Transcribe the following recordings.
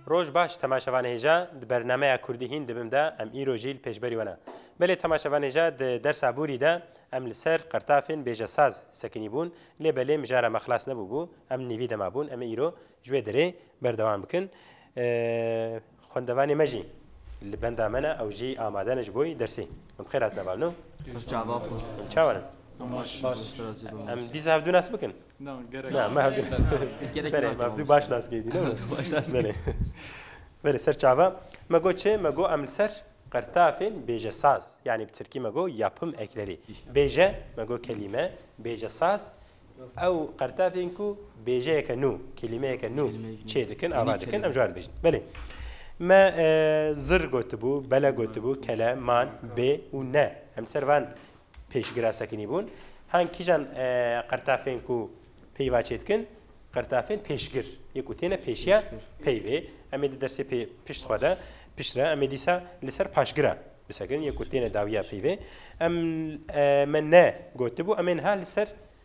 Roj baş temaşevanê hêja di bernameya Kurdî hîn dibim de em îro jî li pêşberî we ne. Belê temaşevanê hêja di dersa Bûrî de em li ser qertafên bêjesaz sekinî bûn lê belê mijara me xilas nebûbû em nîvî de mabûn em ê îro ji wê derê berdewam bikin. Xwendevanê me jî li benda me ne ew jî amade ne ji bo dersê. Em bi xêr hatine bar no. Em çawan in. Em dîsa hevdû nas bikin. Na gerek Na, me hevdî Gerek Berê, me nake hevdî baş nas kêdî ne? Baş nas Berê. Berê ser çava. Me go çê, me go em li ser qirtafên bêjesaz yanî bi tirkî me go yapım ekleri. Bêje me go kelîme, bêjesaz ew qirtafên ku bêjeyeke nû, kelîmeyeke nû Kelîmeyeke nû. çê dikin, ava Yeni dikin kelime. em ji wan dibêjin. Belê. Me e, zir gotibû, bele gotibû, kele, man, bê û ne. Em li ser van Pêşgira sekinîbûn, hang kîjan qirtafên ku peyva çêdikin, qirtafên pêşgir yê ku têne pêşiya peyvê. Em ê di dersê pê pişt xwe de, pişt re em ê dîsa li ser paşgira bisekirin yê ku têne dawiya peyvê. Em me ne gotibû em ê niha li ser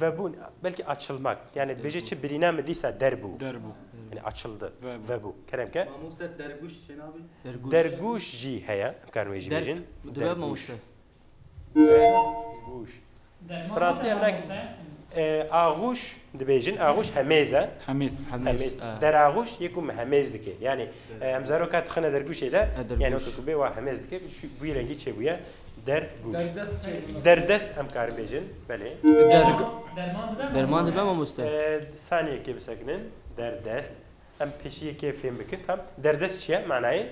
Vebûn, belkî açilmak. Yanî dibêje çi birîna min dîsa der bû. Der bû. Yanî açildi. Vebû. Kerem ke. Mamoste dergûş çê nabî? Dergûş jî heye. Em karin wê jî bêjin. Dibe mamoste. Dergûş. Bi rastî em ne axûş dibêjin. Axûş hemêz e. Hemêz. Hemêz. Deraxûş yê ku min hemêz dike. Yanî em zaroka dixine dergûşê de yanî weke ku bê wa hemêz dike. Bi wî rengî çêbûye. Der gûş. Derdest em karin bêjin. Belê. Derman dibe mamoste? Saniyekê bisekinin. Derdest. Em pêşiyekê fêm bikin. Tam. Derdest çiye? Manayê?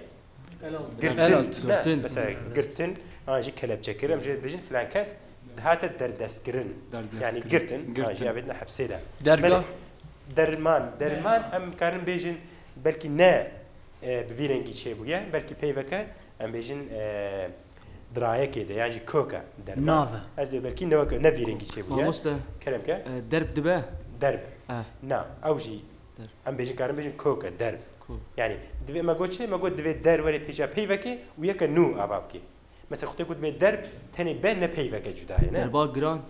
Girtin. Mesela girtin. An jî kelepçe kir. Em jê bêjin filan kes dihate derdest kirin. Yani girtin. An jî avêdine hepsê de. Derga? Derman. Derman em karin bêjin belkî ne bi vî rengî çêbûye. Belkî peyveke Em bêjin dirayekê de yan jî kök e derve. Nav e. Ez dê belkî ne wek ne vî rengî çêbûye. Mamoste. Kerem ke. Derb dibe? Derb. Eh. Na ew jî em bêjin karin bêjin kök e derb. Kök. Yanî divê me got çi? Me got divê der were pêşiya pey vekê û yeke nû ava bikê. Mesela xwedê ku dibê derb tenê be ne pey veke cuda ye ne. Derba giran.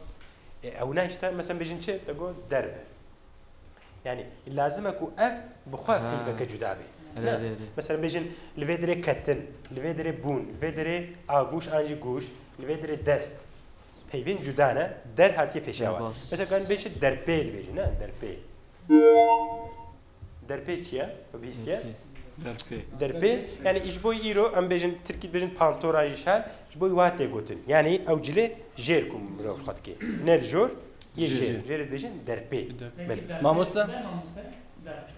E ew ne îşte mesela em bêjin çi? Te got derb e. Yani lazim e ku ev bi xwe peyveke cuda bê. Mesela bêjin li vê dirê ketin, li vê dirê bûn, li vê dirê agûş an jî gûş, li vê dirê dest. Peyvên cuda ne, der hatiye pêşiya wan. Mesela karin bê çi derpêl bêjin ne, derpêl. Derpê çi ye? Bi bîstiye? Derpê. Derpê, yani ji bo îro em bêjin tirkî dibêjin pantora jî şer, Ji bo wan tê gotin. Yanî ew cilê jêr ku mirov xwe dike. Ne li jor yê jêr in. Jêrê dibêjin derpê. Belê. Mamoste?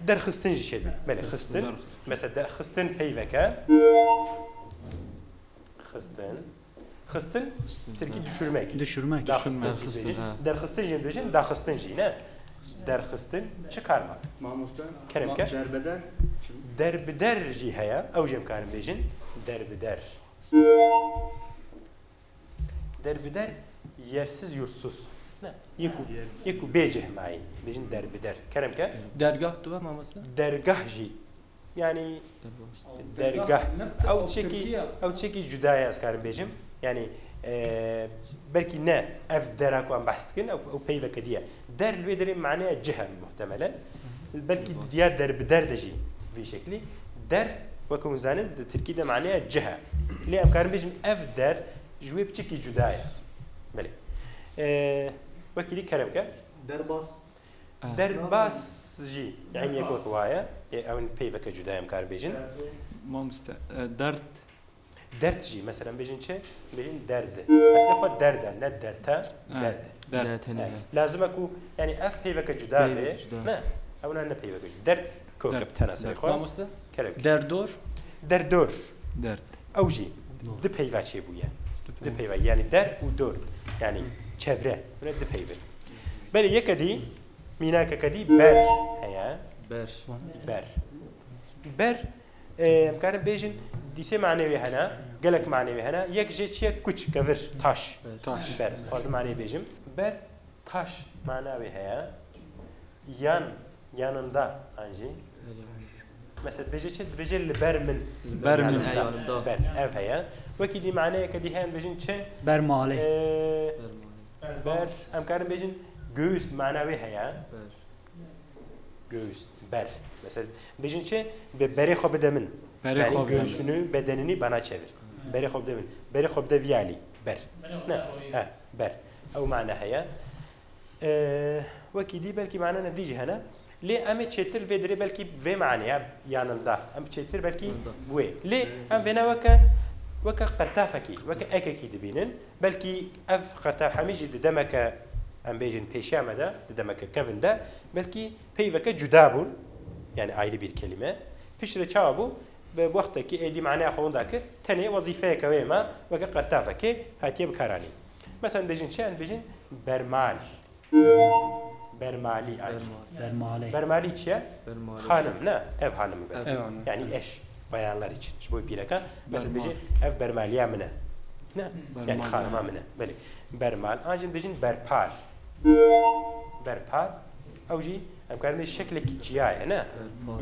Derxistin jî şêr be. Belê xistin. Mesela derxistin peyveke. Xistin. Xistin tirkî düşürmek. Düşürmek. Derxistin. Derxistin jî dibêjin daxistin jî ne. Derxistin çi kar ma? Mamoste? Kerem ker. Derbeder. Derbider jî heye. Ew jî em karin bêjin. Derbider. Derbider yersiz yurtsuz. Ne. Yeku yeku bêceh mayî. Bêjin derbider. Kerem ke? Dergah tu ve mamoste? Dergah jî. Yani dergah. Ew çekî ew çekî cudaya ez karim bêjim. Yani belkî ne ev dera ku em behs dikin ew peyveke diye. Der li wê derê maneya cih hene muhtemelen. Belkî di diya der bi der de jî vî şeklî. Der wek hûn zanin di tirkî de maneya cih e. Lê em karin bêjin ev der ji wê piçekî cuda ye. Belê. Wekî dî kerem ke. Derbas. Derbas jî eynî yek wek waye. Ew peyveke cuda ye em karin bêjin. Mamoste dert. Dert jî meselen bêjin çi? Bêjin derd. Eslê xwe derd e, ne dert e, derd e. Derd e tenê. Lazim e ku yanî ev peyveke cuda be. Peyveke cuda. Ne, ew ne ne peyveke cuda. Derd kok e bi tena serê xwe. Mamoste? Kerek. Derdor? Derdor. Derd. Ew jî di peyva çêbûye. Di peyva. Yanî der û dor. Yanî çevre. Hûn e di peyv in. Belê yeke dî, mînakeke dî ber heye. Ber. Ber. Ber Em dikarin bêjin dîsê manewê hene, gelek manewê hene. Yek jê çi ye? Kuç, kevir, taş. Taş. Ber, dixwazim maneyê bêjim. Ber, taş mana wê heye. Yan, yanında an jî. Mesela dibêje çi? Dibêje li ber min. Li ber min e yanında. Ber, ev heye. Wekî dî maneyeke dî heye em bêjin çi? Ber malê. Ber, em karin bêjin göğüs mana wê heye. Ber. Göğüs, ber. Mesela bejin çi? Be berê xwe bide min. Berê yani xwe göğsünü, bedenini bana çevir. Berê xwe bide min. Berê xwe bide viyalî. Ber. Ne. He, ber. Ew mana heye. Ee, wekî dî belkî mana ne dî jî hene. Lê em ê çêtir vê dirê belkî vê maneya yanında. Em çêtir belkî wê. Lê em vêna weke weke qirtafekî, weke ekekî dibînin. Belkî ev qertewhemî jî di demeke em bêjin pêşiya me de, di demeke kevn de belkî peyveke cuda bûn, yanî ayrı bir kelime. Piştre çawa bû? Bi wextekî êdî maneya xwe winda kir, tenê wezîfeyeke wê ma weke qertavekê hatiye bikaranîn. Meselen dibêjin çi? Em dibêjin bermal. Bermalî Bermalî Bermalî çi ye? Xanim ne ev hanimî be. Yanî eş bayanlar için ji bo pîreke mesela bêjê ev bermaliya min e. Ne yani xanima min e. Belê. Bermal an jî bêjin berpal. Berpal ew jî em karin bê şeklekî ciya ye ne.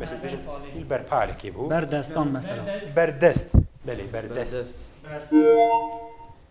Mesela bêjin îl berpalekê bû. Berdestan mesela. Berdest. Belê berdest. Bersin.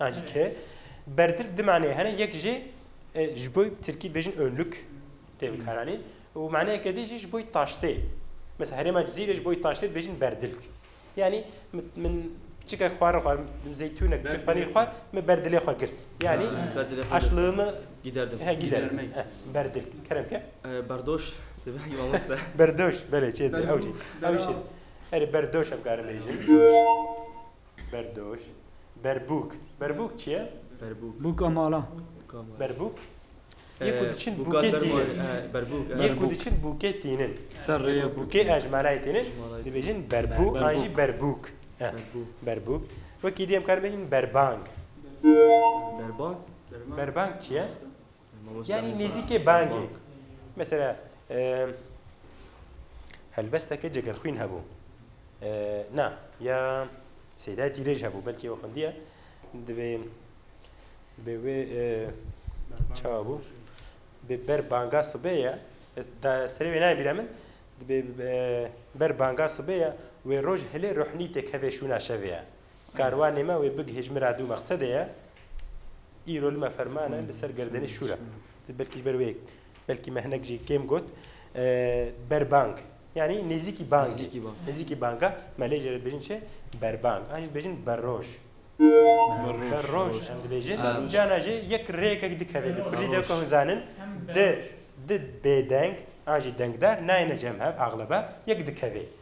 Ancî ke berdil di maneyê hene, yek jî ji bo tirkî dibêjin önlük tê bikaranîn û maneyeke dî jî ji bo taştê. Mesela herêma Cizîrê ji bo taştê dibêjin berdilk. Yanî min piçikek xwarin xwar, zeytûnek, piçik penîr xwar, min berdilê xwe girt. Yanî aşlığimi giderdim. He giderdim. Berdil. Kerem ke? Berdoş. Dibêjin mamoste. Berdoş. Belê çêtir. Ew jî. Ew jî. Erê berdoş em karin bêjin. Berdoş. Berbûk. Berbûk çi ye? Berbûk. Bûka malan. Bûka malan. Berbûk. Yê ku diçin bûkê tînin. Berbûk. Yê ku diçin bûkê tînin. Ser rê ye. Bûkê e ji malayê tînin. Dibêjin berbû an jî berbûk. Berbûk. Wekî diyê em karin bêjin berbang. Berbang. Berbang çi ye? Yanî nêzîkê bangê. Mesela helbesteke cegerxwîn hebû. Na ya Sêdayê Tîrêj hebû belkî ew xwendiye divê bi wê çawa bû bi ber banga sibê ye serê wê nayê bîra min divê ber banga sibê ye wê roj hilê ruhnî têkevê şûna şevê ye. Karwanê me wê big hêjmira dû mexsedê ye. Îro li me ferman e li ser gerdenê şûr e. Belkî ji ber wê belkî me hinek jî kêm got. Berbang yanî nêzîkî bangê. Nêzîkî banga me lê jê re dibêjin çi? Berbang. An jî dibêjin berroj. Berroj em dibêjin. Cana jê yek rêyekek dikeve li kurdî dewke hûn zanin di di bêdeng an jî dengdar nayêne cem hev axlebe yek dikeve.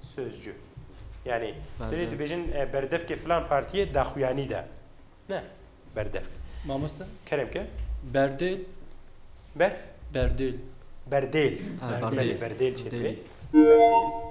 Sözcü. Yani dilê dibêjin e, berdevkê filan partiye daxuyanî de. Ne. Berdevk. Mamoste. Kerem ke. Berdê. Ber. Berdêl. Berdêl. Ha, berdêl. Berdêl çêdibê. Berdêl.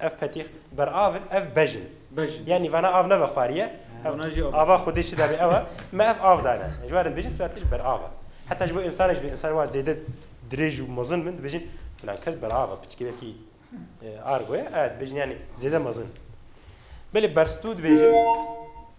Ev petîx, berav in, ev bej in. Bej in. Yanî vana av nebe xwariye. Ev Vana jî av. ava Xwedê çi dabê ew e. Me ev av dane. Ji wan re dibêjin filan tişt berav e. Heta ji bo însanek jî be, însanên wan zêde dirêj û mezin bin, dibêjin filan kes berav e, piçikê wekî Argo ye, ev dibêjin yanî zêde mezin. Belê berstû dibêjin.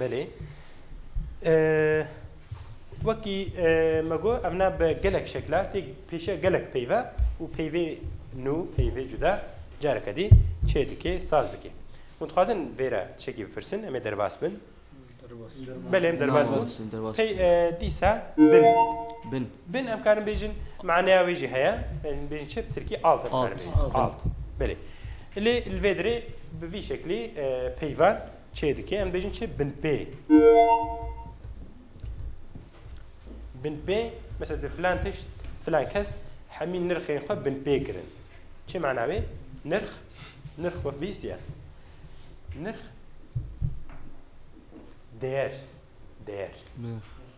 Belê. Wekî me got em ne bi gelek şekla tê pêşiya gelek peyve û peyvê nû peyvê cuda careke dî çê dikê saz dikê. Hûn dixwazin vêre çekî bipirsin em ê derbas bin. Belê em derbas bûn. Pey dîsa bin. Bin. Bin em karin bêjin maneya wê jî heye. Em bêjin çi bi tirkî alt em karin bêjin. Alt. Alt. Belê. Lê li vê derê bi vî şeklî peyvan çê dike. Em bêjin çi binpê. Binpê mesela di filan tişt filan kes hemî nirxên xwe binpê kirin. Çi mana wê? Nirx nirx wek bîstiye. Nirx değer değer. Nirx.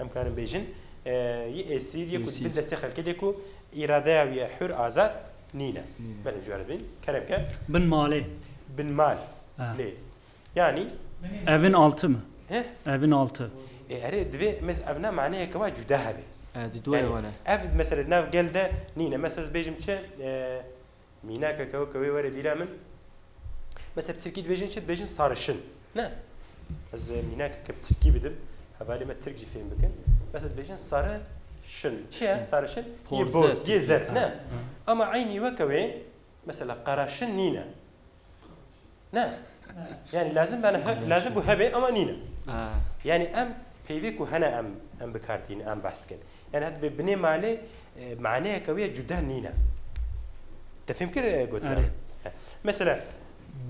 Em karin bêjin yê esîr yê ku di bin destê xelkê de ku îradeya wî ye hur azad nîne. Belê em ji we re dibin. Keremke. Bin malê. Bin mal lê yanî. Evin alti mi? He? Evin alti. Ê erê divê mes ev ne maneyeke wa cuda hebe. Di duayê wan e. Ev mesela di nav gel de nîne. Mes ez bêjim çi Mînakeke weke wê were bîra min. Mesela bi tirkî dibêjin çi? Dibêjin sarişin. Ne. Ez mînakeke bi tirkî bidim. Hevalê me tirk jî fêm bikin. Mesela dibêjin sari şin. Çi ye sarişin? Yê boz, yê zerb. Ne. Ama eynî weke wê mesela qeraşin nîne. Ne. Yani lazim bana he, lazim bu hebe ama nîne. Yani em peyvê ku hene em em bikartîn em behs dikin. Yani hat bi binê malê e, maneyeke wê cuda nîne. Te fêm kir e, gotina. Mesela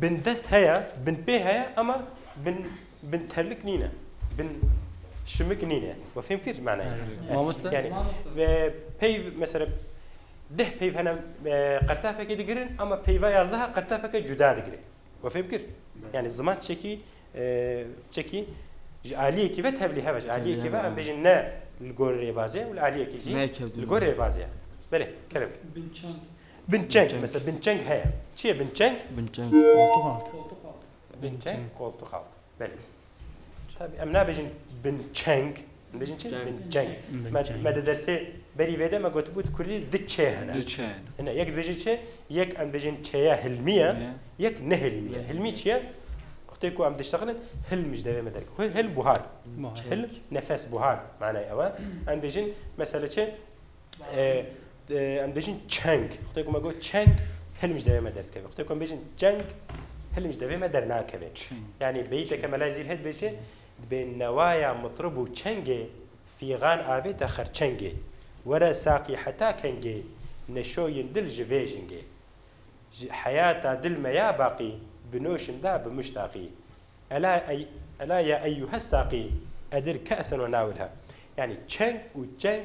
bin dest heye, bin pê heye ama bin Bin terlik nîne. Bin şimik nîne. We fêm kir manayê. Mamoste? Yani peyv mesela deh peyv hene qertafekê digirin ama peyva yazdeha qertafeke cuda digire. We fêm kir? Yani ziman çekî çekî ji aliyekî ve tevlî heve ji aliyekî ve em bêjin ne li gor rêbazê û li aliyekî jî li gor rêbazê ye. Belê kerem. Binçeng. Binçeng mesela binçeng heye. Çi ye binçeng? Binçeng. Koltuk altı. Binçeng koltuxalt. Belê. Tabî em nabêjin binçeng, em dibêjin çi? Binçeng. Me me di dersê berî vê de me gotibû di kurdî di çê hene. Di çê hene. Hine yek dibêjin çi? Yek em dibêjin çêya hilmî ye, yek nehilmî ye. Hilmî çi ye? Xutê ku em diştexilin hilm ji devê me derg. Hilm buhar. Hilm nefes buhar manayê ew e. Em dibêjin mesela çi? Em dibêjin çeng. Xwedê ku me got çeng hilm ji devê me derdikeve. Xwedê ku em bêjin çeng hilm ji devê me dernakeve. Yanî beyîteke Mela Zîr heye dibêje dibê newaya mitrib û çengê fîxan avê te xerçengê. Were saqî heta kengê neşoyîn dil ji vê jingê. Ji heyata dil me ya baqî binoşin da bi muştaqî. Ela ey ela ya eyyuhes saqî edir ke'sen we nawilha. Yanî çeng û çeng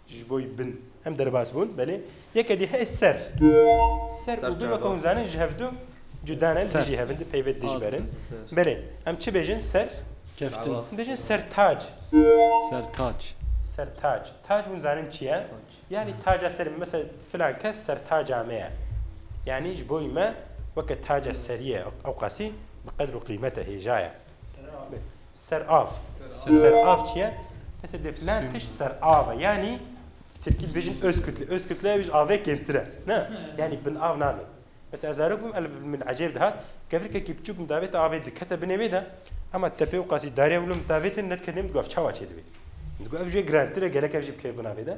Ji bo yî bin. Em derbas bûn, belê. Yeke dî heye ser. Ser û bin weke hûn zanin ji hev du cuda ne, dijî hev in, di peyvê dij ber in. Belê, em çi bêjin ser? Keftin. Bêjin sertac. Sertac. Sertac. Tac hûn zanin çi ye? Yanî taca serê me. Mesela filan kes sertaca me ye. Yanî ji bo yî me weke taca serî ye. Ewqasî bi qedr û qîmete hêja ye. Serav. Serav çi ye? Mesela de filan tiş serave. Yani Türkî dibêjin öz kütle. Öz kütle biz avê kêmtire. Ne? Yani bin av nave. Mesela ez zarok bûm el min ecêb dihat. Kevirkekî biçûk min davêt avê dikete binê wê de. Hema tepê û qasî darê wilo min davêtin nediketim gaf çawa çê divê. Digo ev jê girantire gelek ev jî bi kêf binavê de.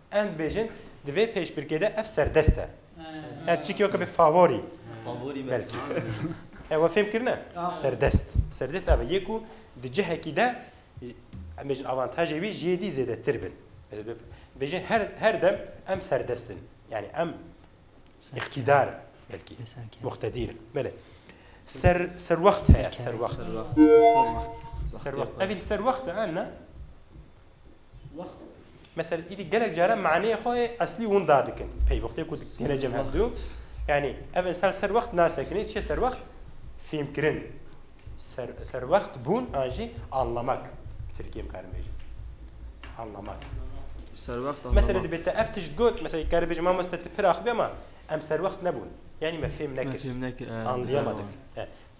Em dibêjin di vê pêşbirkê de ev serdest e. Ev çi ke be favorî. Favorî belkî. Ew e fêm kirine? Serdest. Serdest ev e yê ku di cihekî de em bêjin avantajê wî ji yê dî zêdetir bin. Bêjin her her dem em serdest in. Yani em îktîdar belkî. Muqtedîr in. Belê. Ser serwext heye. Serwext. Serwext. Serwext. Evî serwext e ne? Mesela îdî gelek caran maneyê xwe ê eslî hûn dadikin. Peywixtê ku têne cem hev du. Yanî ev insan ser wext nasekinê, çi ye ser wext? Fêmkirin. Ser, ser wext bûn an jî anlamak. Tirkiyê bikarim bêjim. Anlamak. Ser wext anlamak. Mesela dibê te ev tişt got, mesela kare bêjim mamoste tu pir axivî ama em ser wext nebûn. Yanî me fêm nekir. Anlayamadık.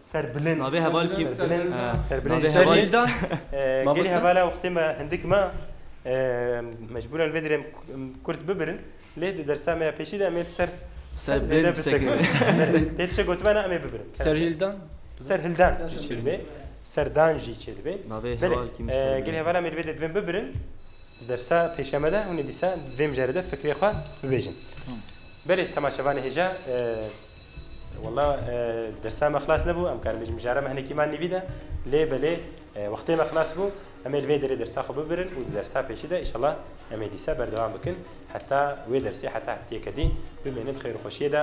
Serbilind. Navê heval kî? Serbilind. Serbilind. Navê heval. Serbilda. Gelê hevala wextê me hindik ma mecbûran vê dirê kurd bibirin lê di dersa me ya pêşî de em ê li ser Serbilind bisekinîn. Tê tişek gotibe na em ê bibirin. Serhildan. Serhildan jî çêdibê. Serdan jî çêdibê. Navê heval kî? Belê. Gelê hevala me li vê de divên bibirin. Di dersa pêşiya me de hûn ê dîsa di vê mijarê de fikrê xwe bibêjin. Belê temaşevanê hêja Wala dersa me xilas nebû em karin bêjin mijara me hinekî man nîvî de lê belê wextê me xilas bû em ê li vê derê dersa xwe bibirin û di dersa pêşî de îşallah em ê dîsa berdewam bikin heta wê dersê heta hefteyeke dî bimênin xêr û xweşiyê de